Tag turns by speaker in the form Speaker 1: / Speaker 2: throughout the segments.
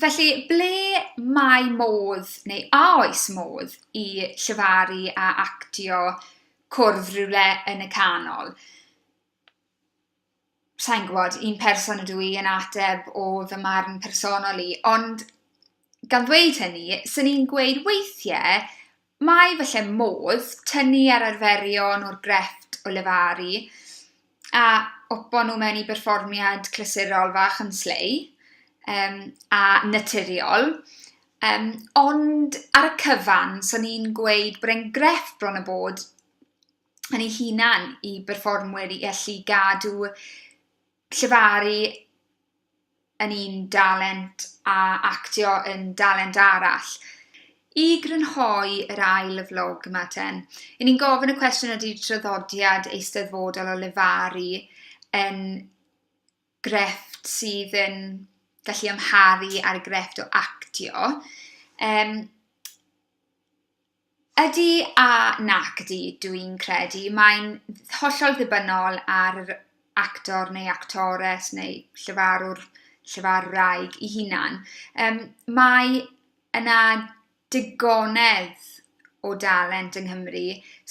Speaker 1: Felly, ble mae modd, neu a oes modd, i llefaru a actio cwrdd rywle yn y canol? Sa i'n gwybod, un person ydw i yn ateb o fy marn personol i, ond gan ddweud hynny, 'swn i'n gweud weithiau, Mae falle modd tynnu ar arferion o'r grefft o lefaru a opo nhw mewn i berfformiad clasurol fach yn slei um, a naturiol. Um, ond ar y cyfan, so ni'n gweud bod e'n grefft bron y bod yn ei hunan i berfformwyr i allu gadw llefaru yn un dalent a actio yn dalent arall. I grynhoi yr ail y vlog yma ten, i ni'n gofyn y cwestiwn ydy traddodiad eisteddfodol o lefaru yn grefft sydd yn gallu amharu ar y grefft o actio. Um, Ydy a nac ydy, dw i'n credu. Mae'n hollol ddibynnol ar yr actor neu actores neu llefarwr, llefarwraig ei hunan. Yym, mae yna digonedd o dalent yng Nghymru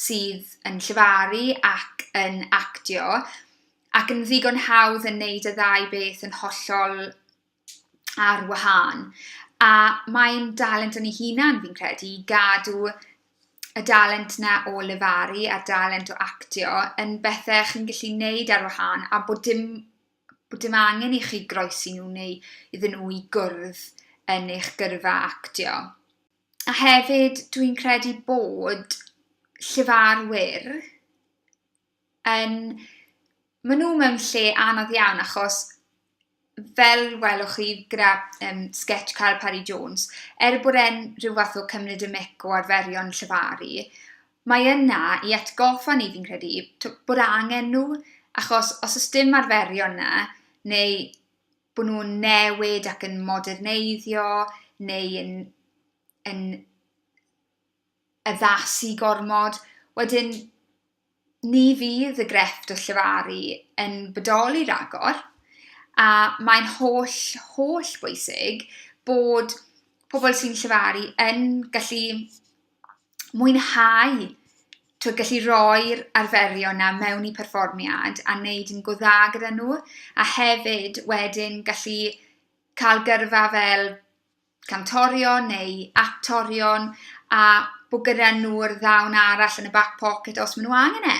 Speaker 1: sydd yn llefaru ac yn actio, ac yn ddigon hawdd yn wneud y ddau beth yn hollol... ar wahân. A mae'n dalent yn ei hunan, fi'n credu, i gadw y dalent na o lefaru a'r dalent o actio yn bethe chi'n gallu neud ar wahân a bod dim bod dim angen i chi groesi nhw neu iddyn nhw i gwrdd yn eich gyrfa actio. A hefyd dwi'n credu bod llefarwyr yn... Maen nhw mewn lle anodd iawn achos fel welwch chi gyda yym sgets Carl Parry Jones, er bod e'n rhyw fath o cymryd y mic o arferion llefaru, mae yna i atgoffa ni fi'n credu t- bod angen nhw, achos os oes dim arferion 'na, neu bod nhw'n newid ac yn moderneiddio, neu yn yn... addasu gormod, wedyn ni fydd y grefft o llefaru yn bodoli ragor, a mae'n holl, holl bwysig bod pobl sy'n llefaru yn gallu mwynhau, tibod, gallu rhoi'r arferion 'na mewn i perfformiad a wneud yn go dda gyda nhw, a hefyd wedyn gallu cael gyrfa fel... cantorion neu actorion a bod gyda nhw'r ddawn arall yn y back pocket os maen nhw angen e.